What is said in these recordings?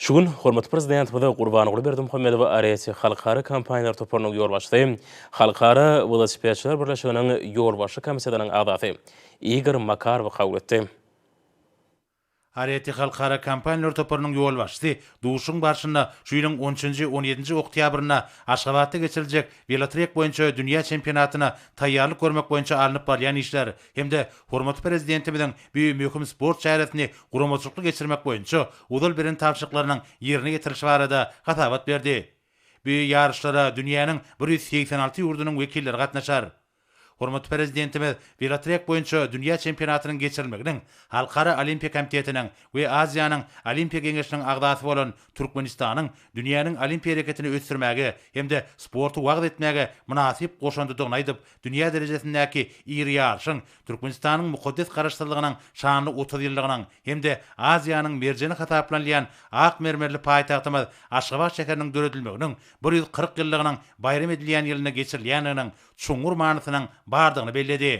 Şu gün hormatly Prezidentimiz Gurbanguly Berdimuhamedow Areti halkara kompaniýalar toparynyň ýolbaşçysy, Halkara welosipedçiler birleşiginiň Ýolbaşçy komitetynyň agzasy Igor Makarowy kabul etdi. Areti halkara kompaniýalar toparynyň ýolbaşçysy duşuşygyň barşynda şu ýylyň on üçünji, on ýedinji oktýabrynda Aşgabatda geçiriljek welotrek boýunça dünýä çempionatyna taýýarlyk görmek boýunça alnyp barylýan işler, hem-de hormatly Prezidentimiziň bu möhüm sport çäresini guramaçylykly geçirmek boýunça ozal beren tabşyryklarynyň ýerine ýetirilişi barada hasabat berdi. Bu ýaryşlara dünýäniň bir ýüz segsen alty ýurdunyň wekilleri gatnaşar. Hormatly Prezidentimiz welotrek boýunça dünýä çempionatynyň geçirilmeginiň Halkara Olimpiýa komitetiniň we Aziýanyň Olimpiýa geňeşiniň agzasy bolan Türkmenistanyň dünýäniň olimpiýa hereketini ösdürmäge hem-de sporty wagyz etmäge mynasyp goşandydygyny aýdyp, Dünýä derejesindäki iri ýaryşyň, Türkmenistanyň mukaddes Garaşsyzlygynyň şanly otuz ýyllygynyň hem-de Aziýanyň merjeni hasaplanylýan ak mermerli paýtagtymyz Aşgabat şäheriniň döredilmeginiň bir ýüz kyrk ýyllygynyň baýram edilýän ýylynda geçirilýändiginiň çuňňur manysynyň bardygyny belledi.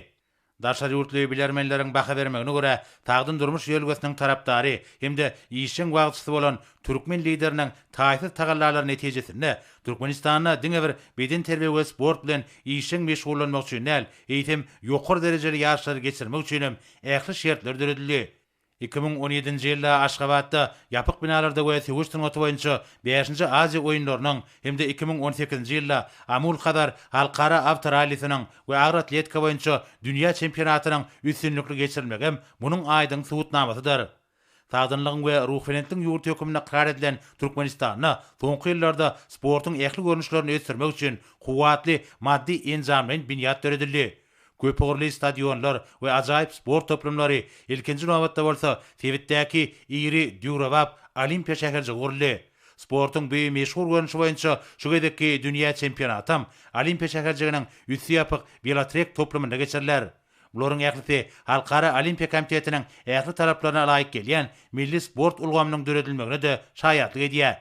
Daşary ýurtly bilermenleriň baha bermegine görä, sagdyn durmuş ýörelgesiniň tarapdary hem-de işjeň wagtçysy bolan türkmen Lideriniň taýsyz tagallalary netijesinde Türkmenistanda diňe bir bedenterbiýe we sport bilen işjeň meşgullanmak üçin däl, eýsem, ýokary derejeli ýaryşlary geçirmek üçin hem ähli şertler döredildi. Iki müň on ýedinji ýylda Aşgabatda ýapyk binalarda we söweş sungaty boýunça bäşinji Aziýa oýunlarynyň hem-de iki müň on sekizinji ýylda Amul-Hazar halkara awtorallisiniň we agroatletika boýunça dünýä çempionatynyň üstünlikli geçirilmegem munuň aýdyň subutnamasydyr. Sagdynlygyň we ruhubelentligiň ýurdy hökmünde ykrar edilen Türkmenistanda soňky ýyllarda sportuň ähli görnüşlerini ösdürmek üçin kuwwatly maddy-enjamlaýyn binýat döredildi. Köpugurly stadionlar we ajaýyp sport toplumlary, ilkinji nobatda bolsa, sebitdäki iri döwrebap Olimpiýa şäherjigi guruldy. Sportuň bu meşhur görnüşi boýunça şu gezekki dünýä çempionatam Olimpiýa şäherjiginiň üsti ýapyk welotrek toplumynda geçiriler. Bularyň ählisi Halkara Olimpiýa komitetiniň ähli talaplaryna laýyk gelýän milli sport ulgamynyň döredilmegine-de şaýatlyk edýär.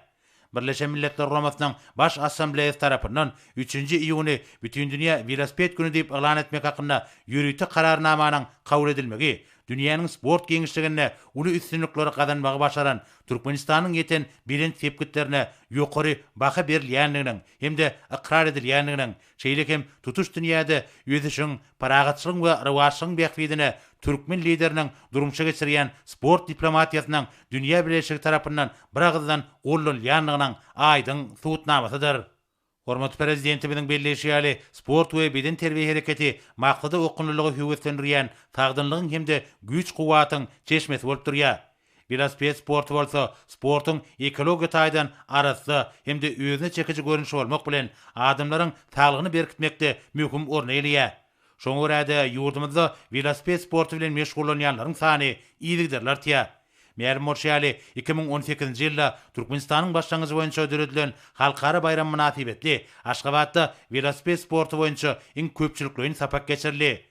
Birleşen Milletler Guramasynyň Baş Assambleýasy tarapyndan üçünji iýuny Bütindünýä welosiped güni diýip yglan etmek hakynda ýörite Kararnamanyň kabul edilmegi dünýäniň sport giňişliginde uly üstünlikleri gazanmagy başaran Türkmenistanyň ýeten belent sepgitlerine ýokary baha berilýändiginiň hem-de ykrar edilýändiginiň Şeýle hem tutuş dünýäde ösüşiň, parahatçylygyň we rowaçlygyň bähbidine türkmen Lideriniň durmuşa geçirýän sport diplomatiýasynyň dünýä bileleşigi tarapyndan biragyzdan gollanylýandygynyň aýdyň subutnamasydyr. Hormatly Prezidentimiziň belleýşi ýaly, sport we bedenterbiýe hereketi maksada okgunlylygy höweslendirýän, sagdynlygyň hem-de güýç-kuwwatyň çeşmesi bolup durýar. Welosiped sporty bolsa sportuň ekologiýa taýdan arassa hem-de özüne çekiji görnüşi bolmak bilen, adamlaryň saglygyny berkitmekde möhüm orny eýeleýär. Şoňa görä-de, ýurdumyzda welosiped sporty bilen meşgullanýanlaryň sany yzygiderli artýar. Mälim bolşy ýaly, iki müň on sekizinji ýylda Türkmenistanyň başlangyjy boýunça döredilen halkara baýram mynasybetli Aşgabatda welosiped sporty boýunça iň köpçülikleýin sapak geçirildi.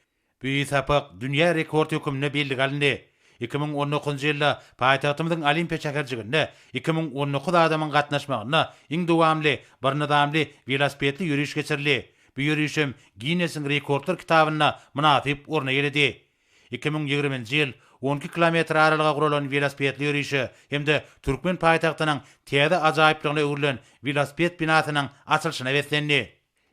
Bu sapak dünýä rekord hökmünde belli galyndy. Iki müň on dokuzynjy ýylda paýtagtymyzyň Olimpiýa şäherjiginde iki müň on dokuz adamyň gatnaşmagynda iň dowamly bir nyzamly welosipedli ýöriş geçirildi, bu ýöriş hem Ginnesiň rekordlar kitabynda mynasyp orun eýeledi. Iki müň ýigriminji ýyl on iki kilometr aralyga guralan welosipedli ýörişe hem-de türkmen paýtagtynyň täze ajaýyplygyna öwrülen welosiped binasynyň açylyşyna beslendi.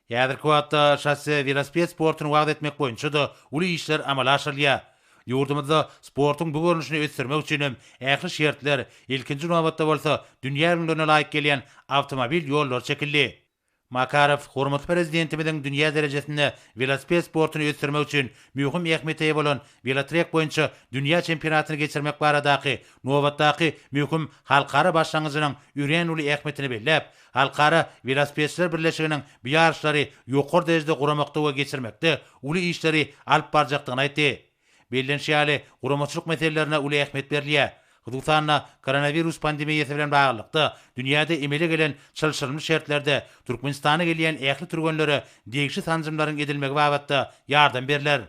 Häzirki wagtda şosse welosiped sportuny wagyz etmek boýunça-da uly işler amala aşyrylýar. Ýurdumyzda sportuň bu görnüşini ösdürmek üçin hem ähli şertler, ilkinji nobatda bolsa dünýä ülňülerine laýyk gelýän awtomobil ýollary çekildi. Makarow hormatly Prezidentimiziň dünýä derejesinde welosiped sportuny ösdürmek üçin möhüm ähmiýete eýe bolan welotrek boýunça dünýä çempionatyny geçirmek baradaky nobatdaky möhüm halkara başlangyjynyň örän uly ähmiýetini belläp, Halkara welosipedçiler birleşiginiň bu ýaryşlary ýokary derejede guramakda we geçirmekde uly işleri alyp barjakdygyny aýtdy. Bellenişi ýaly, guramaçylyk meselelerine uly ähmiýet berilýär. Hususan-da, koronawirus pandemiýasy bilen baglylykda, dünýäde emele gelen çylşyrymly şertlerde Türkmenistana gelýän ähli türgenlere degişli sanjymlaryň edilmegi babatda ýardam berler.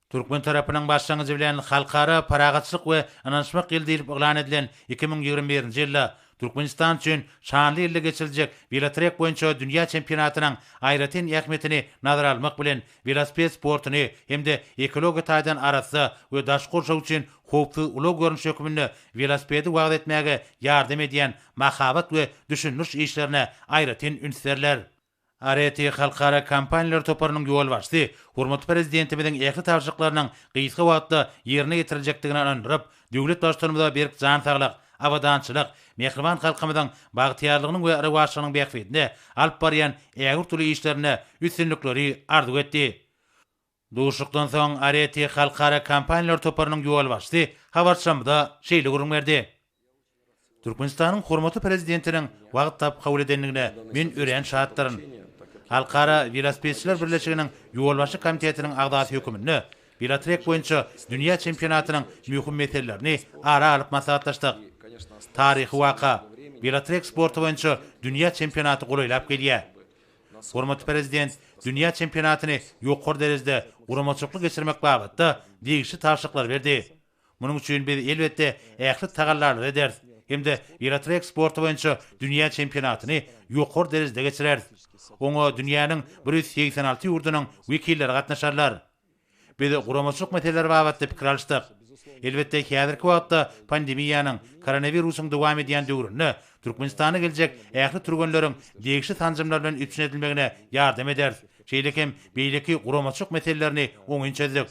Türkmen tarapynyň başlangyjy bilen Halkara parahatçylyk we ynanyşmak ýyly diýlip yglan edilen iki müň ýigrimi birinji ýylda Türkmenistan üçin şanly ýylda geçiriljek welotrek boýunça dünýä çempionatynyň aýratyn ähmiýetini nazara almak bilen welosiped sportuny hem-de ekologiýa taýdan arassa we daşky gurşaw üçin howpsuz ulag görnüşi hökmünde welosipedi wagyz etmäge ýardam edýän mahabat we düşündiriş işlerine aýratyn üns berler. ART halkara kompaniýalar toparynyň ýolbaşçysy hormatly Prezidentimiziň ähli tabşyryklarynyň gysga wagtda ýerine ýetiriljekdigine ynandyryp, döwlet Baştutanymyza berk jan saglyk, abadançylyk, mähriban halkymyzyň bagtyýarlygynyň we rowaçlygynyň bähbidine alyp barýan ägirt uly işlerinde üstünlikleri arzuw etdi. Duşuşykdan soň Arete halkara kompaniýalar toparynyň ýolbaşçysy habarçymyza şeýle gürrüň berdi, Türkmenistanyň hormatly Prezidentiniň wagt tapyp kabul edendigine men örän şatdyryn. Halkara welosipedçiler birleşiginiň ýolbaşçy komitetiniň agzasy höküminde welotrek boýunça dünýä çempionatynyň möhüm meselelerini ara alyp maslahatlaşdyk. Taryhy waka, welotrek sporty boýunça dünýä çempionaty golaýlap gelýär. Hormatly Prezident dünýä çempionatyny ýokary derejede guramaçylykly geçirmek babatda degişli tabşyryklary berdi. Munuň üçin biz, elbetde, ähli tagallalary ederis hem-de welotrek sporty boýunça dünýä çempionatyny ýokary derejede geçireris. Oňa dünýäniň bir ýüz segsen alty ýurdunyň wekilleri gatnaşarlar. Biz guramaçylyk meseleleri babatda pikir alyşdyk. Elbetde, häzirki wagtda pandemiýanyň, koronawirusyň dowam edýän döwründe Türkmenistana geljek ähli türgenleriň degişli sanjymlar bilen üpjün edilmegine ýardam ederis, şeýle hem beýleki guramaçylyk meselelerini oňyn çözdük.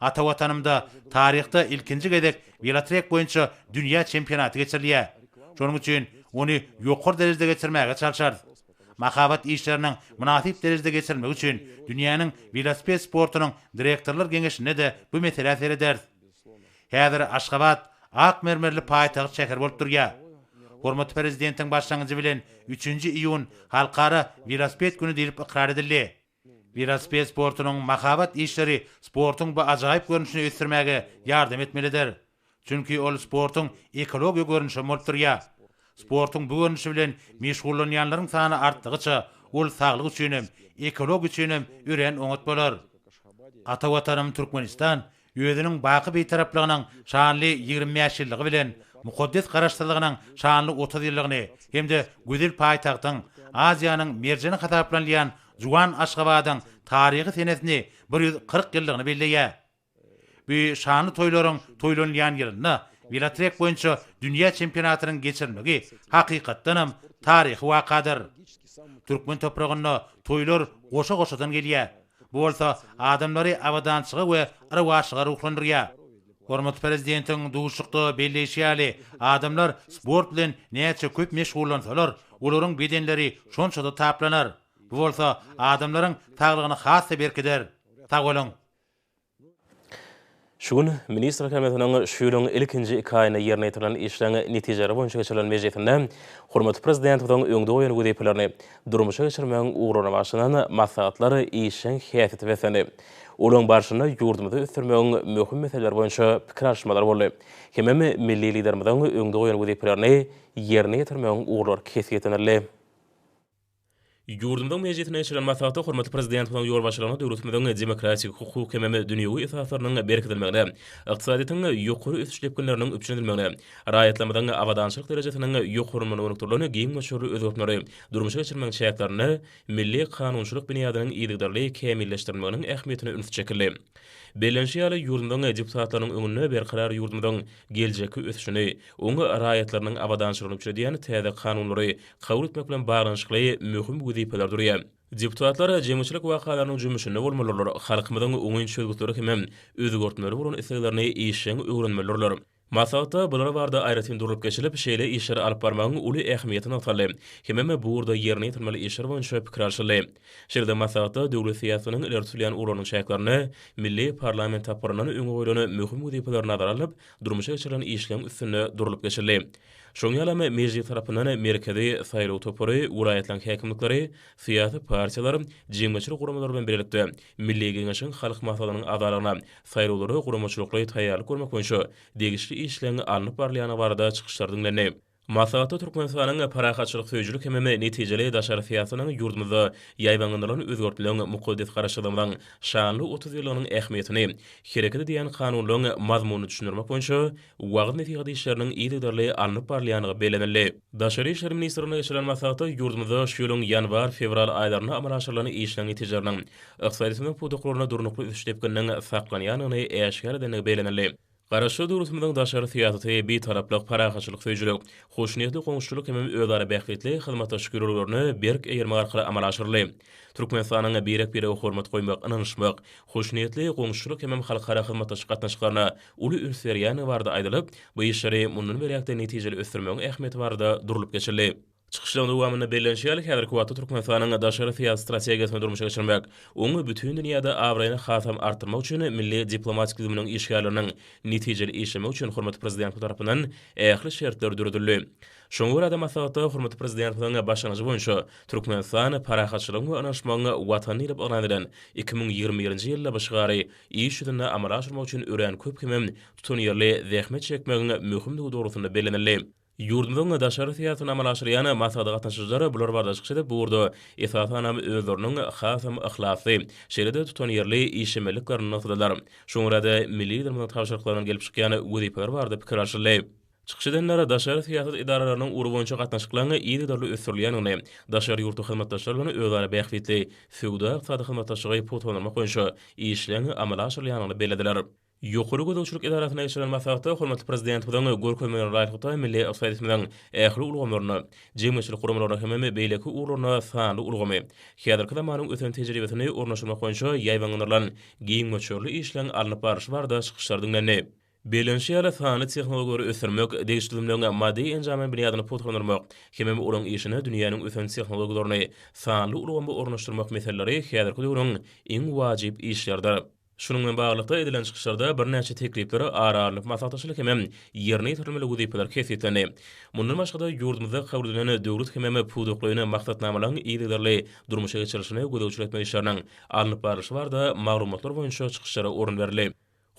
Ata Watanymda taryhda ilkinji gezek welotrek boýunça dünýä çempionaty geçirilýär. Şonuň üçin ony ýokary derejede geçirmäge çalşarys. Mahabat işleriniň mynasyp derejede geçirilmegi üçin dünýäniň welosiped sportunyň direktorlar geňeşinde-de bu meselä serederis. Häzir Aşgabat ak mermerli paýtagt şäher bolup durýar. Hormatly Prezidentiň başlangyjy bilen üçünji iýun Halkara welosiped güni diýlip ykrar edildi. Welosiped sportunyň mahabat işleri sportuň bu ajaýyp görnüşini ösdürmäge ýardam etmelidir. Çünki ol sportuň ekologiýa görnüşi hem bolup durýar. Sportuň bu görnüşi bilen meşgullanýanlaryň sany artdygyça, ol saglyk üçin hem, ekologiýa üçin hem örän oňat bolar. Ata Watanym Türkmenistan Özüniň baky Bitaraplygynyň şanly ýigrimi bäş ýyllygy bilen mukaddes Garaşsyzlygynyň şanly otuz ýyllygyny hem-de gözel paýtagtyň, Aziýanyň merjeni hasaplanylýan juwan Aşgabadyň taryhy senesini bir ýüz kyrk ýyllygyny belleýär. Bu şanly toýlaryň toýlanylýan ýylynda welotrek boýunça dünýä çempionatynyň geçirilmegi hakykatdanam taryhy wakadyr. Türkmen topragynda toýlar goşa-goşadan gelýär. Bu bolsa adamlary abadançylyga we rowaçlyga ruhlandyrýar. Hormatly Prezidentiň duşuşykda belleýşi ýaly, adamlar sport bilen näçe köp meşgullansalar, olaryň bedenleri şonça-da taplanar. Bu bolsa adamlaryň saglygyny has-da berkider. Sag boluň! Şu gün Ministrler Kabinetiniň şu ýylyň ilkinji iki aýynda ýerine ýetirilen işleriň netijeleri boýunça geçirilen mejlisinde hormatly Prezidentimiziň öňde goýan wezipelerini durmuşa geçirmegiň ugryna başlanan maslahatlar işjeň häsiýete beslendi. Olaryň barşynda ýurdumyzy ösdürmegiň möhüm meseleleri boýunça pikir alyşmalar boldy hemem milli Liderimiziň öňde goýan wezipelerini ýerine ýetirmegiň ugurlary kesgitlenildi. Ýurdumyzyň Mejlisinde geçirilen maslahatda hormatly Prezidentimiziň ýolbaşçylygynda döwletimiziň demokratik, hukuk hemem dünýewi esaslarynyň berkidilmegine, ykdysadyýetiň ýokary ösüş depginleriniň üpjün edilmegine, raýatlarymyzyň abadançylyk derejesiniň ýokarlanmagyna gönükdirilen giň möçberli özgertmeleri durmuşa geçirmegiň çäklerinde milli kanunçylyk binýadynyň yzygiderli kämilleşdirilmeginiň ähmiýetine üns çekildi. Bellenişi ýaly, ýurdumyzyň deputatlarynyň öňünde berkarar ýurdumyzyň geljekki ösüşini, oň raýatlarynyň abadançylygyny üpjün edýän täze kanunlary kabul etmek bilen baglanyşykly möhüm wezipeler durýar. Deputatlar jemgyýetçilik wakalarynyň jümmüşinde bolmalydylar, halkymyzyň oňyn çözgütleri hemem özgertmeleri bolan isleglerini işjeň öwrenmelidirler. Maslahatda bular barada aýratyn durlup geçilip, şeýle işleri alyp barmagyň uly ähmiýeti nygtaldy hemem bu ugurda ýerine ýetirilmeli işler boýunça pikir alşyldy. Şeýle-de maslahatda döwlet syýasatynyň ileri tutulýan ugurlarynyň çäklerinde milli parlament tapgyryndan öňe goýlan möhüm wezipeler nazara alnyp, durmuşa geçirilen işleň üstünde durlup geçildi. Şoň ýaly hem Mejlis tarapyndan Merkezi saýlaw topary, welaýatlaryň häkimlikleri, syýasy partiýalar, jemgyýetçilik guramalary bilen bilelikde Milli Geňeşiň Halk Maslahatynyň agzalygyna saýlawlara guramaçylykly taýýarlyk görmek boýunça degişli işleň alnyp barylýandygy barada çykyşlar diňlendi. Maslahatda Türkmenistanyň parahatçylyk söýüjilik hemem netijeli daşary syýasatynyň ýurdumyzda ýaýbaňlandyrylan özgertmeleň, mukaddes Garaşsyzlygymyzyň şanly otuz ýyllygynyň ähmiýetini, hereket edýän Kanunlaryň mazmunyny düşündirmek boýunça wagyz-nesihat işleriniň yzygiderli alnyp barylýandygy bellenildi. Daşary işler ministrliginde geçirilen maslahatda ýurdumyzda şu ýylyň ýanwar, fewral aýlarynda amala aşyrylan işleriň netijeleriniň ykdysady ösümlik pudaklarynda durnukly ösüş depgininiň saklanýandygyny äşgär edendigi bellenildi. Garaşsyz döwletimiziň daşary syýasaty Bitaraplyk, parahatçylyk söýüjilik, hoşniýetli goňşuçylyk hem özara bähbitli hyzmatdaşlyk ýörelgelerine berk eýermek arkaly amala aşyryldy. Türkmenistanyň birek-birege hormat goýmak, ynanyşmak, hoşniýetli goňşuçylyk hem halkara hyzmatdaşlyk gatnaşyklaryna uly üns berýändigi barada aýdylyp, bu işleri mundan beýläk-de netijeli ösdürmegiň ähmiýeti barada durlup geçildi. Çykyşlaryň dowamynda bellenişi ýaly, häzirki wagtda Türkmenistanyň daşary syýasy strategiýasyny durmuşa geçirmek, onuň bütin dünýäde abraýyny hasam artdyrmak üçin milli diplomatik düzüminiň işgärleriniň netijeli işlemegi üçin hormatly Prezidentimiz tarapyndan ähli şertler döredildi. Şoňa görä-de, maslahatda hormatly Prezidentimiziň başlangyjy boýunça Türkmenistan parahatçylygyň we ynanyşmagyň Watany diýlip yglan edilen iki müň ýigrimi birinji ýyl şygary iş ýüzünde amala aşyrmak üçin örän köp hemem tutanýerli zähmet çekmegiň möhümdigi dogrusynda bellenildi. Ýurdumyzyň daşary syýasatyny amala aşyrýan maslahata gatnaşyjylar bular barada çykyş edip, bu ugurda esasanam özleriniň hasam yhlasly, şeýle-de tutanýerli işjemelliklerini nygtadylar. Şoňa görä-de, milli Liderimiziň tabşyryklarynyň gelip çykýan wezipeleri barada pikir alşyldy. Çykyş edenler daşary syýasat edaralarynyň ugry boýunça gatnaşyklaryň yzygiderli ösdürilýändigini, daşary ýurtly hyzmatdaşlar bilen özara bähbitli söwda-ykdysady hyzmatdaşlygy pugtalandyrmak boýunça işleriň amala aşyrylýandygyny bellediler. Ýokary gözegçilik edarasynda geçirilen maslahatda hormatly Prezidentimiziň görkezmelerine laýyklykda milli ykdysadyýetimiziň ähli ulgamlaryna, jemgyýetçilik guramalaryna hemem beýleki ugurlaryna sanly ulgamy, häzirki zamanyň ösen tejribesini ornaşdyrmak boýunça ýaýbaňlandyrylan giň möçberli işleriň alnyp barlyşy barada çykyşlar diňlendi. Bellenişi ýaly, sanly tehnologiýalary ösdürmek, degişli düzümleň maddy-enjamlaýyn binýadyny pugtalandyrmak hemem olaryň işine dünýäniň ösen tehnologiýalaryny, sanly ulgamy ornaşdyrmak meseleleri häzirki döwrüň iň wajyp işleridir. Şunuň bilen baglylykda, edilen çykyşlarda birnäçe teklipler ara alnyp maslahatlaşyldy hemem ýerine ýetirilmeli wezipeler kesgitlendi. Mundan başga-da, ýurdumyzda kabul edilen döwlet hemem pudaklaýyn maksatnamalaryň yzygiderli durmuşa geçirilişine gözegçilik etmek işleriniň alnyp barlyşy barada maglumatlar boýunça çykyşlara orun berildi.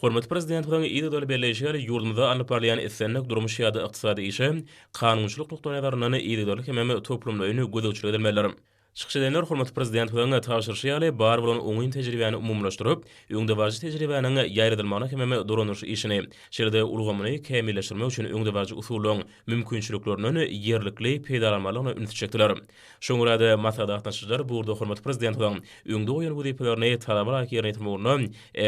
Hormatly Prezidentimiziň yz ýoly belleýşi ýaly, ýurdumyzda alnyp barylýan islendik durmuş ýa-da ykdysady işe kanunçylyk nukdaýnazaryndan yzygiderli hemem toplumlaýyn gözegçilik edilmelidir. Çykyş edenler hormatly Prezidentimiziň tabşyryşy ýaly, bar bolan oňyn tejribäni umumylaşdyryp, öňdebaryjy tejribäniň ýaýradylmagyna hemem dolanyş işini, şeýle-de ulgamyny kämilleşdirmek üçin öňdebaryjy usullaryň mümkinçiliklerinden ýerlikli peýdalanmalygyna ünsi çekdiler. Şoňa görä-de, maslahat gatnaşyjylar bu ugurda hormatly Prezidentimiziň öňde goýan wezipelerini talaba laýyk ýerine ýetirmek ugrunda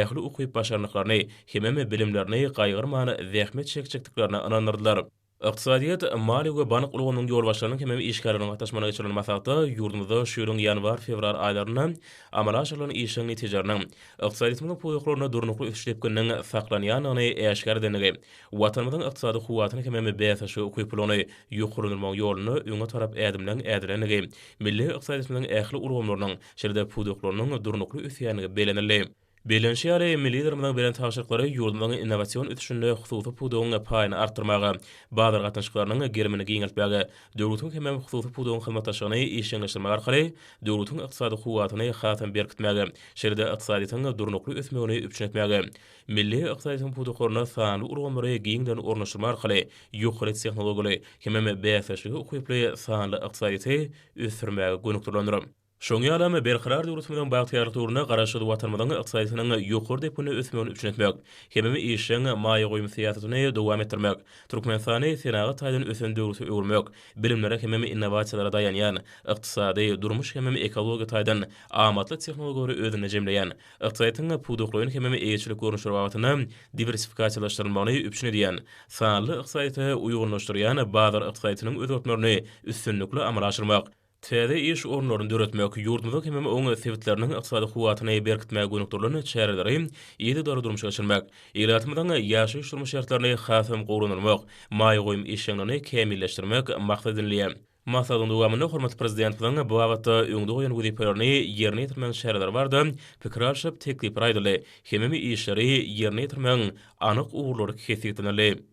ähli ukyp-başarnyklaryny, hemem bilimlerini gaýgyrman zähmet çekjekdiklerine ynandyrdylar. Ykdysadyýet, maliýe we bank ulgamynyň ýolbaşçylarynyň hemem işgärleriniň gatnaşmagynda geçirilen maslahatda ýurdumyzda şu ýylyň ýanwar-fewral aýlarynda amala aşyrylan işleriň netijeleriniň ykdysadyýetimiziň pudaklaryna durnukly ösüş depgininiň saklanýandygyny äşgär edendigi Watanymyzyň ykdysady kuwwatyny hemem bäsdeşlige ukyp puluny ýokarlandyrmagyň ýolunda öňe tarap ädimleriň ädilendigi, milli ykdysadyýetimiziň ähli ulgamlarynyň, şeýle-de pudaklarynyň durnukly ösýändigi bellenildi. Bellenişi ýaly, milli Liderimiziň beren tabşyryklary ýurdumyzyň innowasion ösüşinde hususy pudagyň paýyny artdyrmaga, bazar gatnaşyklarynyň gerimini giňeltmäge, döwletiň hemem hususy pudagyň hyzmatdaşlygyny işjeňleşdirmek arkaly döwletiň ykdysady kuwwatyny hasam berkitmäge, şeýle-de ykdysadyýetiň durnukly ösmegini üpjün etmäge Milli ykdysadyýetiň pudaklaryna sanly ulgamlary giňden ornaşdyrma arkaly ýokary tehnologiýaly hemem bäsdeşlige ukyply sanly ykdysadyýeti ösdürmäge gönükdirilendir. Şoňa ýalam, Berkarar döwletimiziň bagtyýarlyk döwründe Garaşsyz Watanymyzyň ykdysadyýetiniň ýokary depginde ösmegini üpjün etmek hemem işjeň maýa goýum syýasatyny dowam etdirmek, Türkmenistany senagat taýdan ösen döwlete öwürmek, bilimlere hemem innowasiýalara daýanýan, ykdysady, durmuş hemem ekologiýa taýdan amatly tehnologiýalary özünde jemleýän, Ykdysadyýetiň pudaklaýyn hemem eýeçilik görnüşleri babatynda diwersifikasiýalaşdyrylmagyny üpjün edýän, sanly ykdysadyýete uýgunlaşdyrýan bazar ykdysadyýetiniň özgertmelerini üstünlikli amala aşyrmak, täze iş orunlaryny döretmek, ýurdumyzyň hemem oň sebitleriniň ykdysady kuwwatyny berkitmäge gönükdirilen çäreleri yzygiderli durmuşa geçirmek, ilatymyzyň ýaşaýyş-durmuş şertlerini hasam gowulandyrmak, maýa goýum işjeňligini kämilleşdirmek maksat edinilýär. Maslahatyň dowamynda hormatly Prezidentimiziň bu babatda öňde goýan wezipelerini ýerine ýetirmegiň çäreleri barada pikir alşyp, teklipler aýdyldy. Hemem işleri ýerine ýetirmegiň anyk ugurlary kesgitlenildi.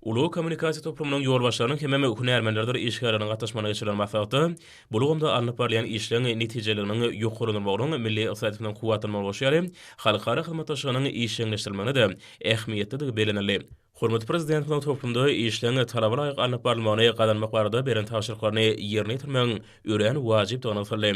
Ulag kommunikasiýa toplumynyň ýolbaşçylarynyň hemem hünärmenlerdir işgärleriň gatnaşmagynda geçirilen maslahatda bu ulgamda alnyp barylýan işleň netijeliginiň ýokarlandyrmagynyň milli ykdysadyýetimiziň kuwwatlanmagyna goşýar halkara hyzmatdaşlygynyň işjeňleşdirilmegine-de ähmiýetlidigi bellenildi. Hormatly Prezidentimiziň toplumda işleň talaba laýyk alnyp barylmagyny gazanmak barada beren tabşyryklaryny ýerine ýetirmegiň örän wajypdygy nygtaldy.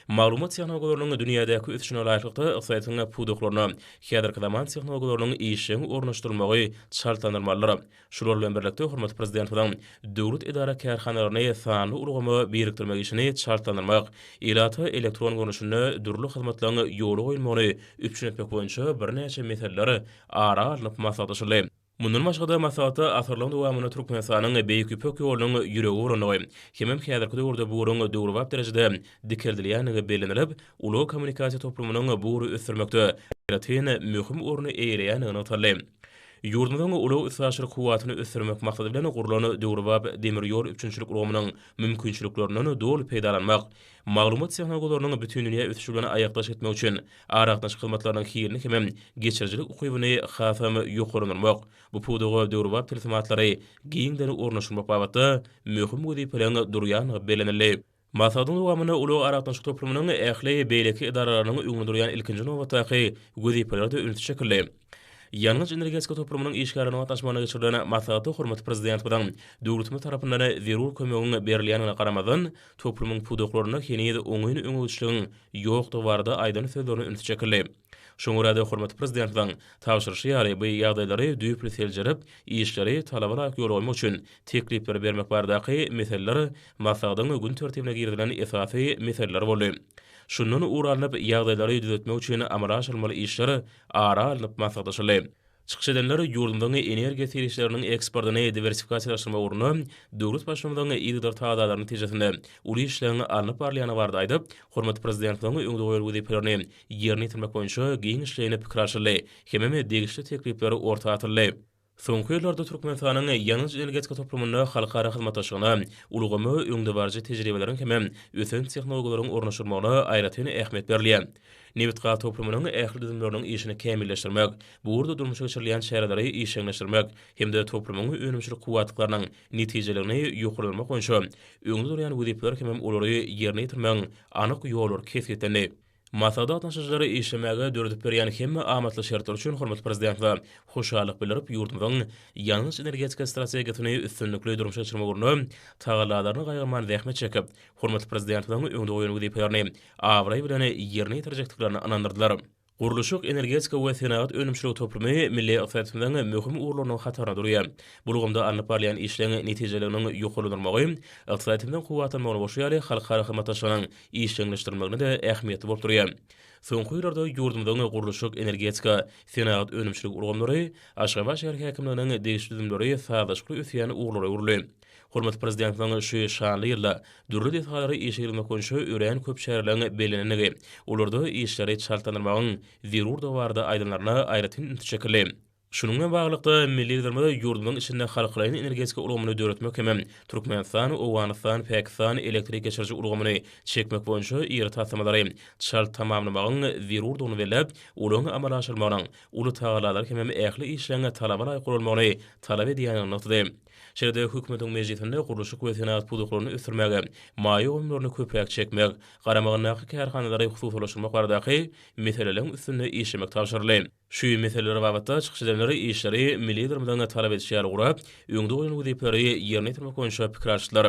Maglumat tehnologiýalarynyň dünýädäki ösüşine laýyklykda ykdysadyýetiň pudaklaryna häzirki zaman tehnologiýalarynyň işjeň ornaşdyrylmagy çaltlandyrylmalydyr. Şular bilen birlikde, hormatly Prezidentimiziň döwlet edara-kärhanalaryny sanly ulgama birikdirmek işini çaltlandyrmak, ilata elektron görnüşinde dürli hyzmatlaryň ýola goýulmagyny üpjün etmek boýunça birnäçe meseleler ara alnyp maslahatlaşyldy. Mundan başga-da, maslahatda asyrlaryň dowamynda Türkmenistanyň Beýik Ýüpek ýolunyň ýüregi bolandygy, hemem häzirki döwürde bu ýoluň döwrebap derejede dikeldilýändigi bellenilip, ulag-kommunikasiýa toplumynyň bu ugry ösdürmekde aýratyn möhüm orny eýeleýändigi nygtaldy. Ýurdumyzyň ulag-üstaşyr kuwwatyny ösdürmek maksady bilen gurlan döwrebap demir ýol üpjünçilik ulgamynyň mümkinçiliklerinden doly peýdalanmak, maglumat tehnologiýalarynyň bütindünýä ösüşi bilen aýakdaş gitmek üçin Aragatnaşyk hyzmatlarynyň hilini hemem geçirijilik ukybyny hasam ýokarlandyrmak, bu pudaga döwrebap tilsimatlary giňden ornaşdyrmak babatda möhüm wezipeleriň durýandygy bellenildi. Maslahatyň dowamynda Ulag aragatnaşyk toplumynyň ähli beýleki edaralarynyň öňünde durýan ilkinji nobatdaky wezipeler-de ünsi çekildi. Ýangyç-energetika toplumynyň işgärleriniň gatnaşmagynda geçirilen maslahatda hormatly Prezidentimiziň döwletimiz tarapyndan zerur kömegiň berilýändigine garamazdan, toplumyň pudaklarynda heniz oňyn öňegçiligiň ýokdugy barada aýdan sözlerine üns çekildi. Şoňa görä-de, hormatly Prezidentimiziň tabşyryşy ýaly, bu ýagdaýlary düýpli seljerip, işleri talaba laýyk ýola goýmak üçin teklipleri bermek baradaky meseleler maslahatyň gün tertibine girizilen esasy meseleler boldy. Şundan ugur alnyp, ýagdaýlary düzetmek üçin amala aşyrylmaly işler ara alnyp maslahatlaşyldy. Çykyş edenler ýurdumyzyň energiýa serişdeleriniň eksportyny diwersifikasiýalaşdyrmak ugrunda döwlet Baştutanynyň yzygider tagadalar netijesinde uly işleň alnyp barylýandygy barada aýdyp, hormatly Prezidentimiziň öňde goýan wezipelerini ýerine ýetirmek boýunça giňişleýin pikir alşyldy hemem degişli teklipler orta atyldy. Soňky ýyllarda Türkmenistanyň ýangyç-energetika toplumynda halkara hyzmatdaşlygyna, ulgama öňdebaryjy tejribeleriň hem ösen tehnologiýalaryň ornaşdyrylmagyna aýratyn ähmiýet berilýär. Nebitgaz toplumynyň ähli düzümleriniň işini kämilleşdirmek, bu ugurda durmuşa geçirilýän çäreleri işjeňleşdirmek hem-de toplumyň önümçilik kuwwatlyklarynyň netijeligini ýokarlandyrmak boýunça öňde durýan wezipeler hem olary ýerine ýetirmegiň anyk ýollary kesgitlendi. Masada gatnaşyjylara işlemäge döredip berýän hemme amatly şertler üçin hormatly Prezidente hoşallyk bildirip, ýurdumyzyň ýangyç-energetika strategiýasyny üstünlikli durmuşa geçirmek ugrunda tagallalaryny gaýgyrman zähmet çekip, hormatly Prezidentimiziň öňde goýan wezipelerini abraý bilen ýerine ýetirjekdiklerine ynandyrdylar. Gurluşyk-energetika we senagat önümçiligi toplumy milli ykdysadymyzyň möhüm ugurlarynyň hatarynda durýar. Bu ulgamda alnyp barylýan işleň netijeliginiň ýokarlandyrylmagy ykdysadymyzyň kuwwatlanmagyna goşy ýaly halkara hyzmatdaşlygynyň işjeňleşdirmegine-de ähmiýetli bolup durýar. Soňky ýyllarda ýurdumyzyň gurluşyk, energetika, senagat önümçilik ulgamlary, Aşgabat şäher häkimliginiň degişli düzümleri sazlaşykly ösýän ugurlara öwrüldi. Hormatly Prezidentimiziň şu şanly ýylda dürli desgalary işe girizmek boýunça örän köp çäreleriň bellenendigi, olarda işleri çaltlandyrmagyň zerurdygy barada aýdanlaryna aýratyn ünsi çekildi. Şunuň bilen baglylykda, milli Liderimiz ýurdumyzyň içinde halkaraýyn energetika ulgamyny döretmek hem Türkmenistan, Owganystan, Pakistan elektrik geçiriji ulgamyny çekmek boýunça iri taslamalary çalt tamamlamagyň zerurdygyny belläp, olaryň amala aşyrmagynyň uly tagallalary hemem ähli işleň talaba laýyk guralmagyny talap edýändigini nygtady. Şeýle-de Hökümetiň mejlisinde gurluşyk we senagat pudaklaryny ösdürmäge, maýa goýumlaryny köpräk çekmek, garamagyndaky kärhanalary hususylaşdyrmak baradaky meseleleriň üstünde işlemek tabşyryldy. Şu meseleler babatda çykyş edenler işleri milli Liderimiziň talap edişi ýaly gurap, öňde goýan wezipeleri ýerine ýetirmek boýunça pikir alyşdylar.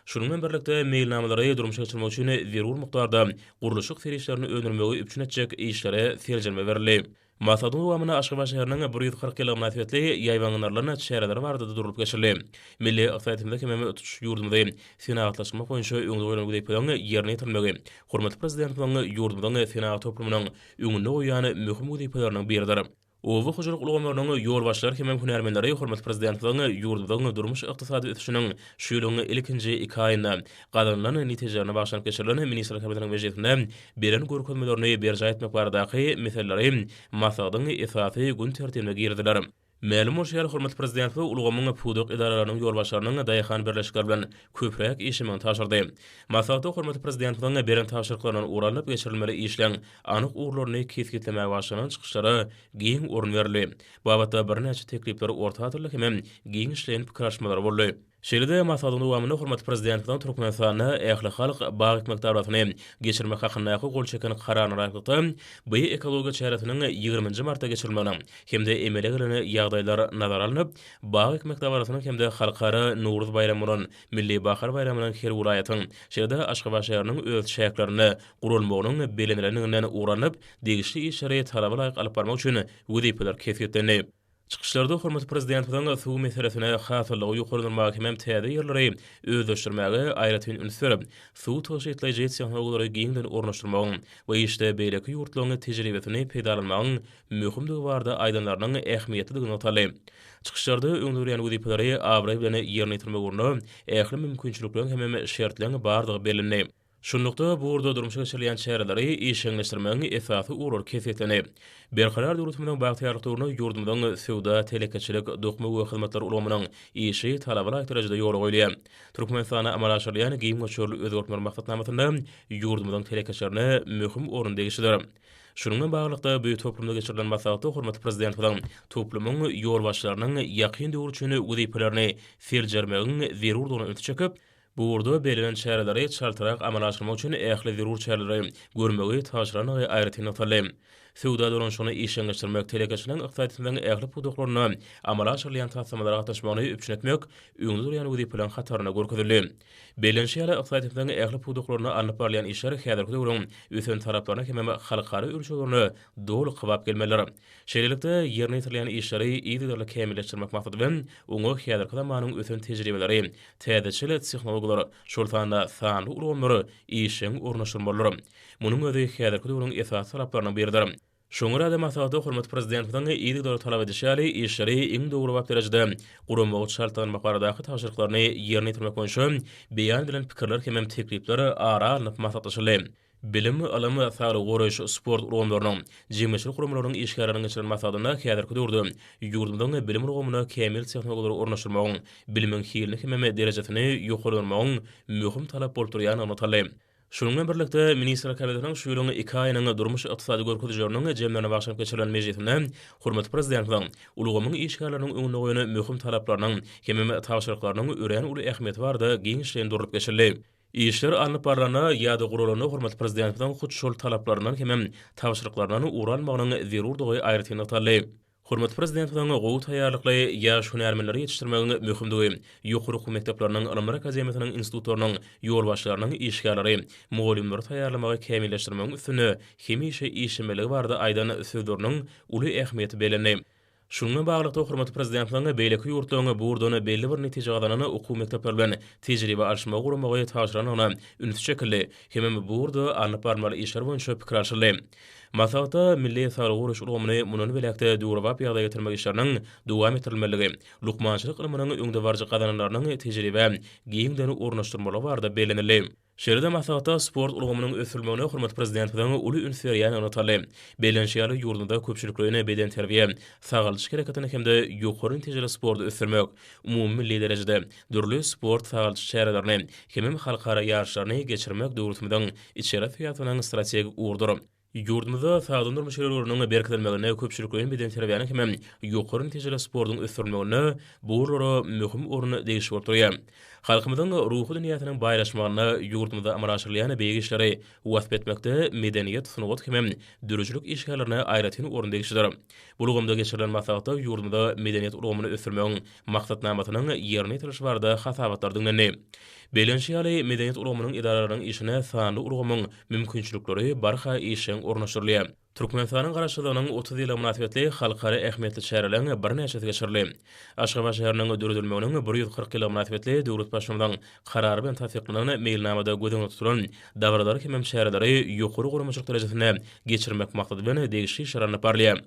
Şunuň bilen birlikde, meýilnamalary durmuşa geçirmek üçin zerur mukdarda gurluşyk serişdelerini öndürmegi üpjün etjek işlere seljerme berildi. Maslahatyň dowamynda Aşgabat şäheriniň bir ýüz kyrk ýyllygy mynasybetli ýaýbaňlandyrylan çäreleri barada-da durlup geçildi. Milli ykdysadyýetimizi hemem tutuş ýurdumyzy senagatlaşdyrmak boýunça öňde goýlan wezipeleriň ýerine ýetirilmegi hormatly Prezidentimiziň ýurdumyzyň senagat toplumynyň öňünde goýýan möhüm wezipeleriň biridir. Oba hojalyk ulgamlarynyň ýolbaşçylary hem hünärmenleri hormatly Prezidentimiziň ýurdumyzyň durmuş-ykdysady ösüşiniň şu ýylyň ilkinji iki aýynda gazanylan netijelerine bagyşlanyp geçirilen Ministrler Kabinetiniň mejlisinde beren görkezmelerini berjaý etmek baradaky meseleleri maslahatyň esasy gün tertibine girdiler. Mälim bolşy ýaly, hormatly Prezidentimiz bu ulgamyň pudak edaralarynyň ýolbaşçylarynyň daýhan birleşikleri bilen köpräk işlemegini tabşyrdy. Maslahatda hormatly Prezidentimiziň beren tabşyryklaryndan ugur alnyp geçirilmeli işleň anyk ugurlaryny kesgitlemäge bagyşlanan çykyşlara giň orun berildi. Babatda birnäçe teklipler orta atyldy hemem giňişleýin pikir alyşmalar boldy. Şeýle-de, maslahatyň dowamynda hormatly Prezidentimiziň Türkmenistanda ählihalk bag ekmek dabarasyny geçirmek hakyndaky gol çeken Kararyna laýyklykda, bu ekologiýa çäresiniň ýigrimi nji martda geçirilmeginiň hem-de emele gelen ýagdaýlar nazara alnyp, bag ekmek dabarasynyň hem-de Halkara Nowruz baýramy bolan Milli bahar baýramynyň her welaýatyň, şeýle-de Aşgabat şäheriniň öz çäklerinde guralmagynyň bellenilenidiginden ugur alnyp, degişli işleri talaba laýyk alyp barmak üçin wezipeler kesgitlendi. Çykyşlarda hormatly Prezidentimiziň suw meselesine hasyllygy ýokarlandyrmaga hemem täze ýerleri özleşdirmäge aýratyn üns berip, suw tygşytlaýjy tehnologiýalary giňden ornaşdyrmagyň we işde beýleki ýurtlaryň tejribesini peýdalanmagyň möhümdigi barada aýdanlarynyň ähmiýetlidigi nygtaldy. Çykyşlarda öňderilýän wezipeleri abraý bilen ýerine ýetirmek ugrunda ähli mümkinçilikleriň hemem şertleriň bardygy bellendi. Şunlukda, bu ugurda durmuşa geçirilýän çäreleri işjeňleşdirmegiň esasy ugurlary kesgitlenip, Berkarar döwletimiziň bagtyýarlyk döwründe ýurdumyzyň söwda, telekeçilik, dokma we hyzmatlar ulgamynyň işi talaba laýyk derejede ýola goýulýar. Türkmenistanda amala aşyrylýan giň möçberli özgertmeler maksatnamasynda ýurdumyzyň telekeçilerine möhüm orun degişlidir. Şunuň bilen baglylykda, bu toplumda geçirilen maslahatda hormatly Prezidentimiziň toplumyň ýolbaşçylarynyň ýakyn döwür üçin wezipelerini seljermegiň zerurdygyna ünsi çekip, Bu ugurda bellenen çäreleri çaltrak amala aşyrmak üçin ähli zerur çäreleri görmegi tabşyrandygy aýratyn nygtaldy. Söwda dolanyşygyny işjeňleşdirmek, telekeçiligiň ykdysadyýetimiziň ähli pudaklarynda amala aşyrylýan taslamalara gatnaşmagyny üpjün etmek öňde durýan wezipeleriň hatarynda görkezildi. Bellenişi ýaly, ykdysadyýetimiziň ähli pudaklarynda alnyp barylýan işler häzirki döwrüň ösen talaplaryna hemem halkara ölçeglerine doly kybap gelmelidir. Şeýlelikde, ýerine ýetirilýän işleri yzygiderli kämilleşdirmek maksady bilen, oňa häzirki zamanyň ösen tejribeleri, Täzeçil tehnologiýalar, şol sanda sanly ulgamlary işjeň ornaşdyrmalydyr. Munuň özi häzirki döwrüň esasy talaplarynyň biridir. Şoňa görä hem maslahata hormatly Prezidentimiziň yzygiderli talap edişi ýaly, işleri iň döwrebap derejede guramagy çaltlanmak baradaky tabşyryklaryny ýerine ýetirmek boýunça beýan edilen pikirler hem teklipler ara alnyp maslahatlaşyldy. Bilim, ylym, saglygy goraýyş, sport ulgamlarynyň, jemgyýetçilik guramalarynyň işgärleriniň geçiren maslahatynda häzirki döwürde ýurdumyzyň bilim ulgamyna kämil tehnologiýalary ornaşdyrmagyň, bilimiň hilini hemem derejesini ýokarlandyrmagyň möhüm talap bolup durýandygy nygtaldy. Şunuň bilen birlikde, Ministrler Kabinetiniň şu ýylyň iki aýynyň durmuş-ykdysady görkezijileriniň jemlerine bagyşlanyp geçirilen mejlisinde hormatly Prezidentimiziň ulgamyň işgärleriniň öňünde goýan möhüm talaplarynyň hemem tabşyryklarynyň örän uly ähmiýeti barada giňişleýin durlup geçildi. Işler alnyp barlanda ýa-da guralanda hormatly Prezidentimiziň hut şol talaplaryndan hemem tabşyryklaryndan ugur almagynyň zerurdygy aýratyn nygtaldy. Hormatly Prezidentimiziň gowy taýýarlykly ýaş hünärmenleri ýetişdirmegiň möhümdigi, ýokary okuw mekdepleriniň, ylymlar akademiýasynyň, institutlarynyň ýolbaşçylarynyň işgärleri, mugallymlary taýýarlamagy kämilleşdirmegiň üstünde hemişe işlemelikligi barada aýdan sözleriniň uly ähmiýeti bellendi. Şunuň bilen baglylykda, hormatly Prezidentimiziň beýleki ýurtlaryň burdan belli bir netije gazanan okuw mekdepleri bilen tejribe alyşmagy guramagy tabşyrandygyna üns çekildi hemem bu ugurda alnyp barylmaly işler boýunça pikir alşyldy. Maslahatda milli saglygy goraýyş ulgamyny mundan beýläk-de döwrebap ýagdaýa getirmek işleriniň dowam etdirilmelidigi, lukmançylyk ylmynyň öňdebaryjy gazananlarynyň tejribä giňden ornaşdyrylmalygy barada bellenildi. Şeýle-de maslahatda sport ulgamynyň ösdürilmegine hormatly Prezidentimiziň uly üns berýäni nygtaldy. Bellenişi ýaly, ýurdumyzda köpçülikleýin bedenterbiýe, sagaldyş hereketini hem-de ýokary netijeli sporty ösdürmek, umumymilli derejede dürli sport-sagaldyş çärelerini hemem halkara ýaryşlaryny geçirmek döwletimiziň içeri syýasatynyň strategik ugrudyr. Ýurdumyzda sagdyn durmuş ýörelgeleriniň berkidilmeginde, köpçülikleýin bedenterbiýäniň hem-ä ýokary netijeli sportuň ösdürilmeginde bu ugurlara möhüm orun degişli bolup durýar. Halkymyzyň ruhy dünýäsiniň baýlaşmagynda ýurdumyzda amala aşyrylýan beýik işleri wasp etmekde medeniýet, sungat hem-ä döredijilik işgärlerine aýratyn orun degişlidir. Bu ulgamda geçirilen maslahatda ýurdumyzda medeniýet ulgamyny ösdürmegiň Maksatnamasynyň ýerine ýetirilişi barada hasabatlar diňlendi. Bellenişi ýaly, medeniýet ulgamynyň edaralarynyň işine sanly ulgamyň mümkinçilikleri barha işjeň ornaşdyrylýar. Türkmenistanyň Garaşsyzlygynyň otuz ýyllygy mynasybetli halkara ähmiýetli çäreleriň birnäçesi geçirildi. Aşgabat şäheriniň döredilmeginiň bir ýüz kyrk ýyllygy mynasybetli döwlet Baştutanynyň Karary bilen tassyklanan Meýilnamada göz öňünde tutulan dabaralary hemem çäreleri ýokary guramaçylyk derejesinde geçirmek maksady bilen degişli işler alnyp barylýar.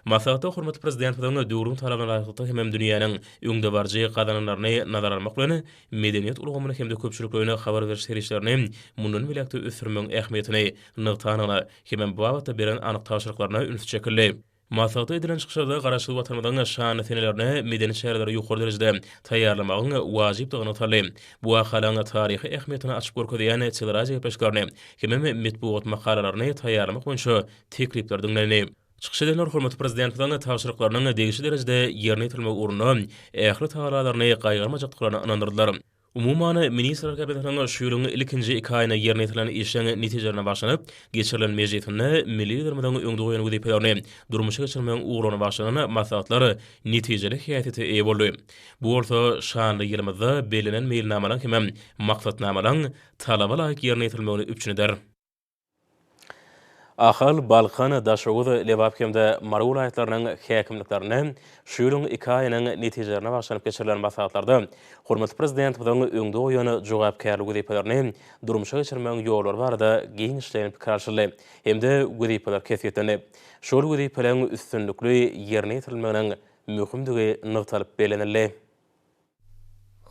Maslahatda hormatly Prezidentimiziň döwrüň talabyna laýyklykda hemem dünýäniň öňdebaryjy gazananlaryny nazara almak bilen, medeniýet ulgamyny hem-de köpçülikleýin habar beriş serişdelerini mundan beýläk-de ösdürmegiň ähmiýetini nygtandygyna hemem bu babatda beren anyk tabşyryklaryna üns çekildi. Maslahatda edilen çykyşlarda Garaşsyz Watanymyzyň şanly senelerine medeni çäreleri ýokary derejede taýýarlamagyň wajypdygy nygtaldy. Bu wakalaryň taryhy ähmiýetini açyp görkezýän teleradiogepleşiklerini hemem metbugat makalalaryny taýýarlamak boýunça teklipler diňlendi. Çykyş edenler hormatly Prezidentimiziň tabşyryklarynyň degişli derejede ýerine ýetirilmegi ugrunda ähli tagallalaryny gaýgyrmajakdyklaryna ynandyrdylar. Umuman, Ministrler Kabinetiniň şu ýylyň ilkinji iki aýynda ýerine ýetirilen işiň netijelerine bagşylanyp geçirilen mejlisinde milli Liderimiziň öňde goýan wezipelerini durmuşa geçirmegiň ugurlaryna bagşlanan maslahatlar netijeli häsiýete eýe boldy. Bu bolsa şanly ýylymyzda bellenen meýilnamalaryň hem-ä maksatnamalaryň talaba laýyk ýerine ýetirilmegini üpjün eder. Ahal, Balkan, Daşoguz, Lebap hem-de Mary welaýatlarynyň häkimliklerinde şu ýylyň iki aýynyň netijelerine baglanyp geçirilen maslahatlarda hormatly Prezidentimiziň öňde goýan jogapkärli wezipelerini durmuşa geçirmegiň ýollary barada giňişleýin pikir alşyldy hem-de wezipeler kesgitlenip, şol wezipeleriň üstünlikli ýerine ýetirilmeginiň möhümdigi nygtalyp bellenildi.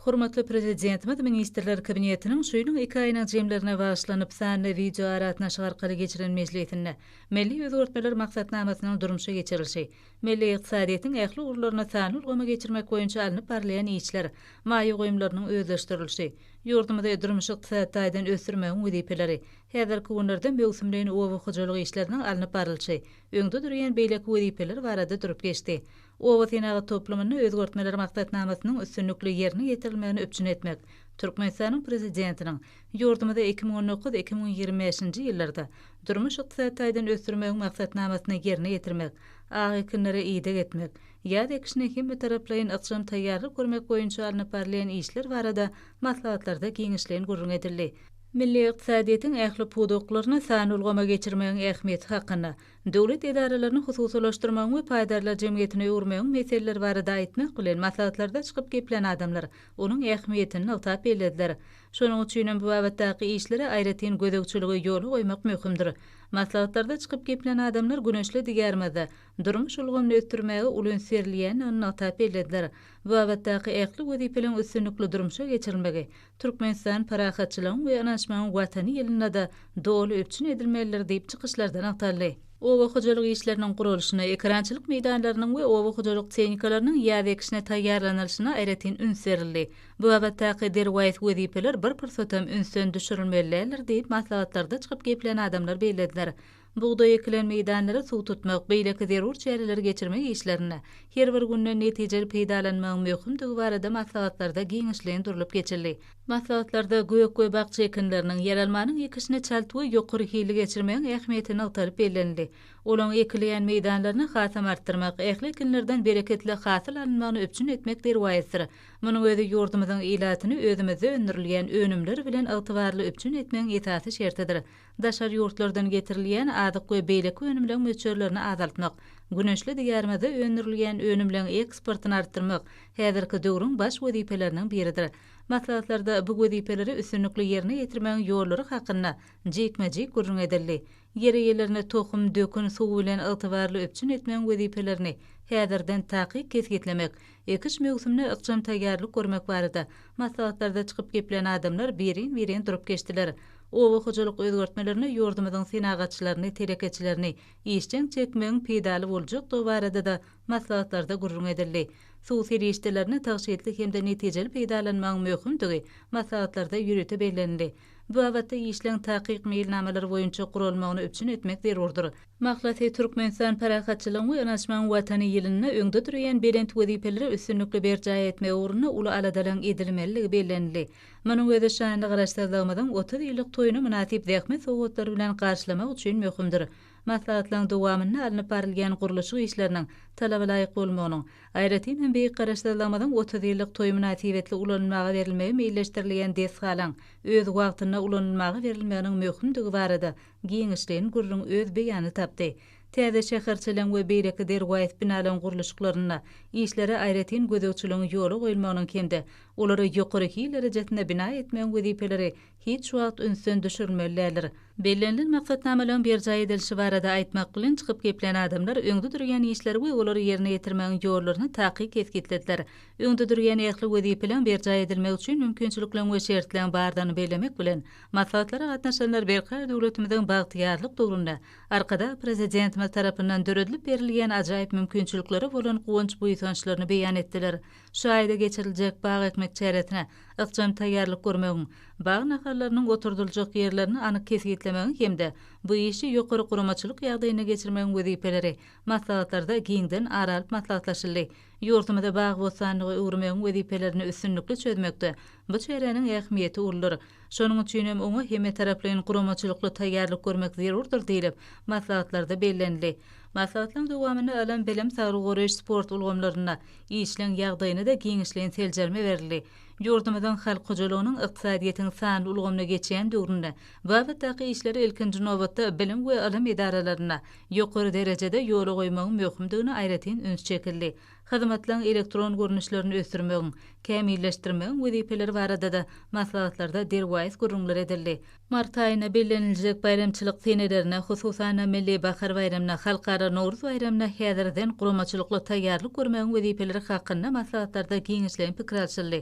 Hormatly Prezidentimiz Ministrler Kabinetiniň şu ýylyň iki aýynyň jemlerine bagyşlanyp, sanly wideoaragatnaşyk arkaly geçiren mejlisinde milli özgertmeler maksatnamasynyň durmuşa geçirilişi, milli ykdysadyýetiň ähli ugurlaryny sanly ulgama geçirmek boýunça alnyp barylýan işler, maýa goýumlarynyň özleşdirilişi, ýurdumyzy durmuş-ykdysady taýdan ösdürmegiň wezipeleri, häzirki günlerde möwsümleýin oba hojalyk işleriniň alnyp barlyşy, öňde durýan beýleki wezipeler barada durup geçdi. Oba senagat toplumynda özgertmeler maksatnamasynyň üstünlikli ýerine ýetirilmegini üpjün etmek Türkmenistanyň Prezidentiniň ýurdumyzy iki müň on dokuz, iki müň ýigrimi bäşinji ýyllarda durmuş-ykdysady taýdan ösdürmegiň maksatnamasyny ýerine ýetirmek, ak ekinlere ideg etmek, ýaz ekişine hemmetaraplaýyn ykjam taýýarlyk görmek boýunça alnyp barylýan işler barada maslahatlarda giňişleýin gürrüň edildi. Milli ykdysadyýetiň ähli pudaklaryny sanly ulgama geçirmegiň ähmiýeti hakynda, döwlet edaralaryny hususylaşdyrmagyň we paýdarlar jemgyýetine öwürmegiň meseleleri barada aýtmak bilen, maslahatlarda çykyp geplän adamlar onuň ähmiýetini nygtap bellediler. Şonuň üçin hem bu babatdaky işlere aýratyn gözegçiligi ýola goýmak möhümdir. Maslahatlarda çykyp geplän adamlar güneşli Diýarymyzda durmuş ulgamyny ösdürmäge uly üns berilýändigini nygtap bellediler. Bu babatdaky ähli wezipeleriň üstünlikli durmuşa geçirilmegi Türkmenistan parahatçylygyň we ynanyşmagyň Watany ýylynda-da doly üpjün edilmelidir diýip, çykyşlarda nygtaldy. Oba hojalyk işleriniň guralyşyna, ekerançylyk meýdanlarynyň we oba hojalyk tehnikalarynyň ýaz ekişine taýýarlanylyşyna aýratyn üns berildi. Bu babatdaky derwaýys wezipeler bir pursatam ünsden düşürilmeli däldir diýip, maslahatlarda çykyp geplän adamlar bellediler. Bugdaý ekilen meýdanlary suw tutmak, beýleki zerur çäreleri geçirmek işlerinde her bir günden netijeli peýdalanmagyň möhümdigi barada maslahatlarda giňişleýin durlup geçildi. Maslahatlarda gök we bakja ekinleriniň, ýeralmanyň ekişini çalt we ýokary hilli geçirmegiň ähmiýeti nygtalyp bellenildi. Olaň ekilýän meýdanlaryny hasam artdyrmak, ähli ekinlerden bereketli hasyl alynmagyny üpjün etmek derwaýysdyr. Munuň özi ýurdumyzyň ilatyny özümizde öndürilýän önümler bilen ygtybarly üpjün etmegiň esasy şertidir. Daşary ýurtlardan getirilýän azyk we beýleki önümleň möçberlerini azaltmak, güneşli Diýarymyzda öndürilýän önümleň eksportyny artdyrmak häzirki döwrüň baş wezipeleriniň biridir. Maslahatlarda bu wezipeleri üstünlikli ýerine ýetirmegiň ýollary hakynda jikme-jik gürrüň edildi. Ýeri gelende tohum, dökün, suw bilen ygtybarly üpjün etmegiň wezipelerini häzirden takyk kesgitlemek, Ekiş möwsümine ykjam taýýarlyk görmek barada maslahatlarda çykyp geplän adamlar birin-birin durup geçdiler. Oba hojalyk özgertmelerine ýurdumyzyň senagatçylaryny, telekeçilerini işjeň çekmegiň peýdaly boljakdygy barada-da maslahatlarda gürrüň edildi. Suw serişdelerini tygşytly hem-de netijeli peýdalanmagyň möhümdigi maslahatlarda ýörite bellenildi. Bu babatda işleň takyk meýilnamalary boýunça guralmagyny üpjün etmek zerurdyr. Mahlasy, Türkmenistan Parahatçylygyň we Ynanyşmagyň Watany ýylynda öňde durýan belent wezipeleri üstünlikli berjaý etmek ugrunda uly aladalaryň edilmelidigi bellenildi. Munuň özi şanly Garaşsyzlygymyzyň otuz ýyllyk toýuny mynasyp zähmet sowgatlary bilen garşylamak üçin möhümdir. Maslahatlaryň dowamynda alnyp barylýan gurluşyk işleriniň talabalaýyk bolmagynyň, aýratyn hem Beýik Garaşsyzlygymyzyň otuz ýyllyk toýy mynasybetli ulanylmaga berilmegi meýilleşdirilýän desgalaryň öz wagtynda ulanylmaga berilmeginiň möhümdigi barada giňişleýin gürrüň öz beýanyny tapdy. Täze şäherçeligiň we beýleki derwaýys binalaryň gurluşyklarynda işlere aýratyn gözegçiligiň ýola goýulmagynyň hem-de olary ýokary hil derejesinde bina etmegiň wezipeleri hiç wagt ünsden düşürilmeli däldir. Bellenilen maksatnamalaryň berjaý edilişi barada aýtmak bilen çykyp geplän adamlar öňde durýan işleri we olary ýerine ýetirmegiň ýollaryny takyk kesgitlediler. Öňde durýan ähli wezipeleň berjaý edilmegi üçin mümkinçilikleň we şertleň bardygyny bellemek bilen, maslahatlara gatnaşanlar berkarar döwletimiziň bagtyýarlyk döwründe Arkadag Prezidentimiz tarapyndan döredilip berilýän ajaýyp mümkinçiliklere bolan guwanç-buýsançlaryny beýan etdiler. Şu aýda geçiriljek bag ekmek çäresine ykjam taýýarlyk görmegiň, bag nahallarynyň oturdyljak ýerlerini anyk kesgitlemegiň hem-de bu işi ýokary guramaçylyk ýagdaýynda geçirmegiň wezipeleri maslahatlarda giňden ara alyp maslahatlaşyldy. Ýurdumyzy bag-bossanlyga öwürmegiň wezipelerini üstünlikli çözmekde bu çäräniň ähmiýeti uludyr. Şonuň üçin hem oňa hemmetaraplaýyn guramaçylykly taýýarlyk görmek zerurdyr diýlip, maslahatlarda bellenildi. Maslahatlaryň dowamynda ylym, bilim, saglygy goraýyş, sport ulgamlarynda işleň ýagdaýyna-da giňişleýin seljerme berildi. Ýurdumyzyň halk hojalygynyň ykdysadyýetiň sanly ulgamyna geçýän döwründe babatdaky işleri ilkinji nobatda bilim we ylym edaralarynda ýokary derejede ýola goýmagyň möhümdigine aýratyn üns çekildi. Hyzmatlaryň elektron görnüşlerini ösdürmegiň, kämilleşdirmegiň wezipeleri barada-da maslahatlarda derwaýys gürrüňler edildi. Mart aýynda belleniljek baýramçylyk senelerine, hususan-da, Milli bahar baýramyna, Halkara Nowruz baýramyna häzirden guramaçylykly taýýarlyk görmegiň wezipeleri hakynda maslahatlarda giňişleýin pikir alşyldy.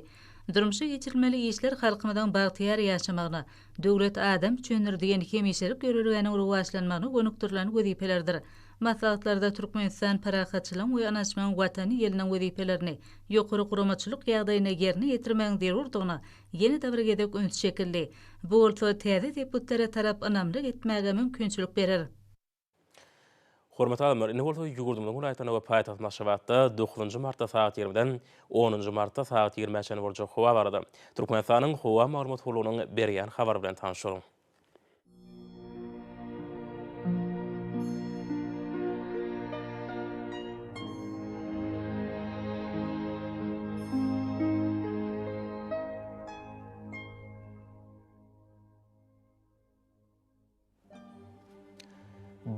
Durmuşa geçirilmeli işler halkymyzyň bagtyýar ýaşamagyna, Döwlet adam üçindir! diýen hemişelik ýörelgäniň rowaçlanmagyna gönükdirilen wezipelerdir. Maslahatlarda Türkmenistan parahatçylygyň we ynanyşmagyň Watany ýylynyň wezipelerini ýokary guramaçylyk ýagdaýynda ýerine ýetirmegiň zerurdygyna ýene-de bir gezek üns çekildi. Bu bolsa täze depgtlere tarap ynamly gitmäge mümkinçilik berer. Hormatly adamlar, indi bolsa ýurdumyzyň welaýatlarynda we paýtagtymyz Aşgabatda dokuzynjy martda sagat ýigrimiden onunjy martda sagat ýigrimä çenli boljak howa barada Türkmenistanyň Howa maglumat gullugynyň berýän habary bilen tanşyň.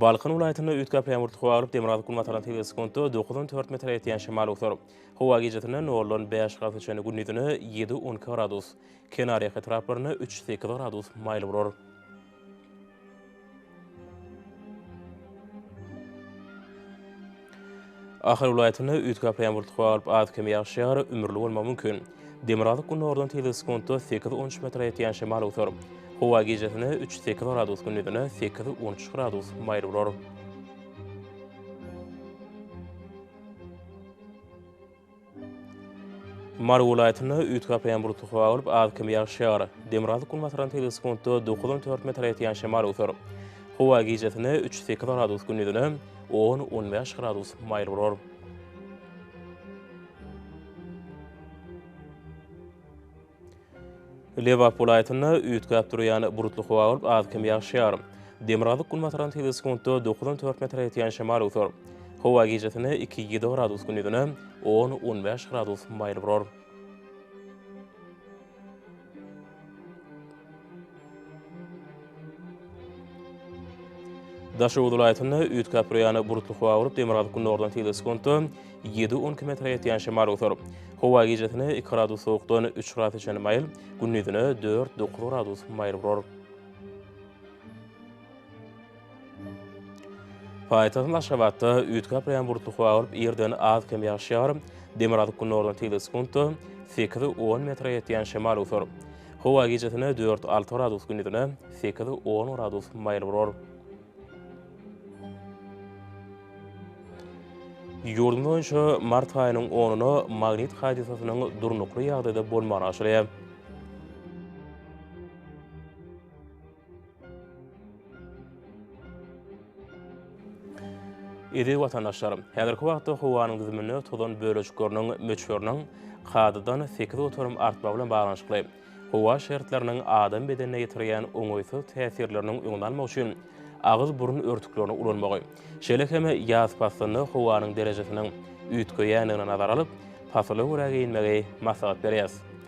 Balkan welaýatynda üýtgäp ýaňburt howa alyp, demirgazyk-günbataryň tebigy sekuntda dokuzdan dört metre ýetýän şemal otar. Howa gijesi-nde noldan bäş gradus çenli, gündizine ýedi-on iki gradus, kenarýaka etraplarynda üç-sekiz gradus maýyl bolar. Ahal welaýatynda üýtgäp ýamuryt howa bolup az-kem ýagyş ýagar, ümürli bolmagy mümkin. Demirgazyk gündogardan tizligi sekuntda sekiz-on üç metre ýetýän şemal öwser. Howa gijesine üç-sekiz gradus, gündizine sekiz-on üç gradus maýyl bolar. Mary welaýatynda üýtgäp ýampurdy howa bolup, az-kem ýagyş ýagar. Demirgazyk günbatardan tebigy sekuntda dokuz on dört metre ýetýän şemal öwser. Howa gijesine üç sekiz gradus, gündizine on on bäş gradus maýyl bolar. Lebap welaýatynda üýtgäp durýan bulutly howa bolup, az-kem ýagşýar. Demirgazyk-günbatardan tebigy sekuntda dokuz on dört metre ýetýän şemal öwser. Howa gijesine iki ýedi gradus, gündizine on on bäş gradus maýyl bolar. Daşoguz welaýatynda üýtgäp-bir ýana bulutly howa bolup, demirgazyk-gündogardan tizligi sekuntda ýedi-on iki metre ýetýän şemal oýar. Howa gijesine iki gradus sowukdan üç graduse çenli maýyl, gündizine dört-dokuz gradus maýyl bolar. Paýtagtymyz Aşgabatda üýtgäp barýan bulutly howa bolup, irden az-kem ýagşar. Demirgazyk-gündogardan tegelek sekuntda sekiz, on metre ýetýän şemal öwser. Howa gijesine dört, alty gradus, gündizine sekiz, on gradus maýyl bolar. Ýurdumyz boýunça mart aýynyň onuna magnit hadysasynyň durnukly ýagdaýda bolmagyny aşyrýar. Eziz watandaşlar, häzirki wagtda howanyň düzüminde tozan bölejikleriniň möçberiniň kadadan sekiz göterim artmagy bilen baglanyşykly, howa şertleriniň adam bedenine ýetirýän oňaýsyz täsirleriniň öňüni almak üçin agyz-burun örtüklerini ulanmagy, şeýle hem ýaz paslynda howanyň derejesiniň üýtgeýändigini nazara alyp, pasyla görä geýinmegi maslahat berýäris.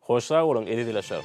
Hoş sag boluň eziz ilaşar.